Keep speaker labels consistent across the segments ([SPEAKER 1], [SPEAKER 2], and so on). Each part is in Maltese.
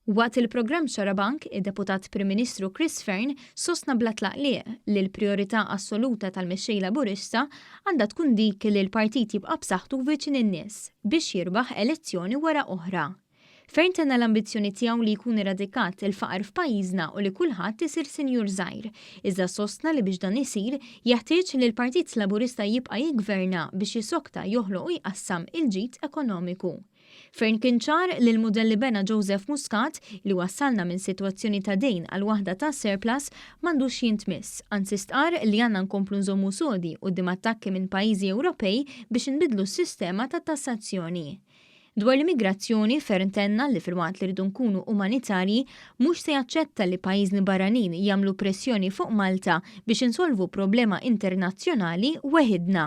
[SPEAKER 1] Waqt il-programm Xarabank, id-Deputat Prim Ministru Chris Fearne sostna bla tlaqliq li l-prijorità assoluta tal-Mexxej Laburista għandha tkun dik li l-partit jibqa' b'saħħtu viċin in-nies biex jirbaħ elezzjoni wara oħra. Ferm tenna l-ambizzjoni tiegħu li jkun eradikat il-faqar f'pajjiżna u li kulħadd isir sinjur żgħir, iżda sostna li biex dan isir, jeħtieġ li l-Partit Laburista jibqa' jiggverna biex jisokta, joħloq u jqassam il-ġid ekonomiku. Ferm kien ċar li l-mudell li bena Joseph Muscat, li wassalna minn sitwazzjoni ta' dejn għal waħda ta' surplus, m'għandux jintmiss, anzi stqarr li għandna nkomplu nżommu sodi quddiem attakki minn pajjiżi Ewropej biex inbiddlu s-sistema tat-tassazzjoni. Dwar l-immigrazzjoni, Fearne tenna li filwaqt li rridu nkunu umanitarji, mhux se jaċċetta li pajjiżni barranin jagħmlu pressjoni fuq Malta biex insolvu problema internazzjonali weħidna.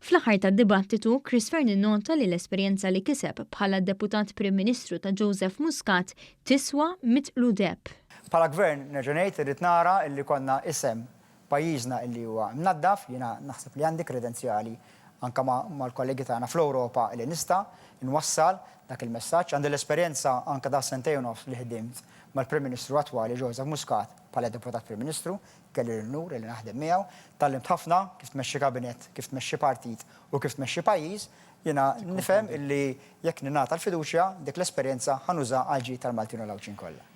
[SPEAKER 1] Fl-aħħar tad-dibattitu, Chris Fearne innota li l-esperjenza li kiseb bħala Deputat Prim Ministru ta' Joseph Muscat tiswa mitt qludepp. Bħala Gvern,
[SPEAKER 2] nerġa' ngħid, irrid nara li jkollna isem Pajjiżna illi huwa mnaddaf, jiena naħseb li għandi kredenzjali anke mal-kollegi tagħna fl-Ewropa illi nista' nwassal dak il-messaġġ. Għandi l-esperjenza anke ta' sentejn u nofs li ħdimt mal-Prim Ministru attwali Joseph Muscat bħala Deputat Prim Ministru, kelli l-unur illi naħdem miegħu. Tgħallimt ħafna kif tmexxi kabinett, kif tmexxi partit u kif tmexxi pajjiż. Jiena nifhem illi jekk ningħata l-fiduċja, dik l-esperjenza ħa nużaha għall-ġid tal-Maltin u l-Għawdxin kollha.